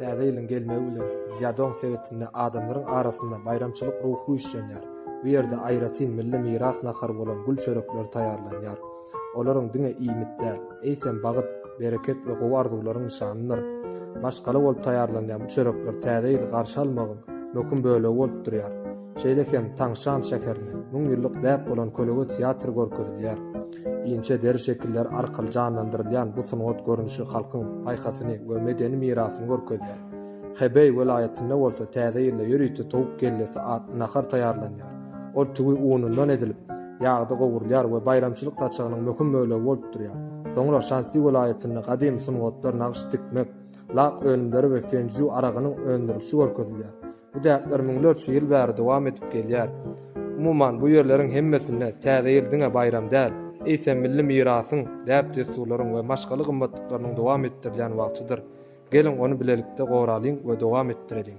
Täze ýylyň gelmegi bilen Szýadong sebitinde adamlaryň arasynda baýramçylyk ruhy güýçlenýär. Bu ýerde aýratyn milli miras nahary bolan gül çörekleri taýýarlanýar. Olaryň diňe iýmit däl, eýsem bagyt, bereket we gowy arzuwlaryň nyşanydyr. Maşgala bolup taýýarlanýan bu çörekler Täze ýyly garşy almagyň möhüm bölegi bolup durýar. Şeýle hem Taňşan şäherinde müň ýyllyk däp bolan kölegöz teatry görkezilýär. Inçe deri şekilleri arkaly janlandyrylýan bu sungat görnüşi halkyň paýhasyny we medeni mirasyny görkezýär. Hebeý welaýatynda bolsa Täze ýylda ýörite towuk kellesi atly nahar taýýarlanýar. Ol tüwi unundan edilip, ýagda gowurylýar we baýramçylyk saçagynyň möhüm bölegi bolup durýar. Soňra Şansi welaýatynda gadymy sungatlar, nagyş dikmek, lak önümleri we fenju aragynyň öndürilişi görkezilýär. Bu däpler müňlerçe ýyl bäri dowam edip gelýär. Umuman, bu ýerleriň hemmesinde Täze ýyl diňe baýram däl, eýsem milli mirasyň, däp-dessurlaryň we maşgala gymmatlyklarynyň dowam etdirilýän wagtydyr. Geliň, ony bilelikde goralyň we dowam etdireliň!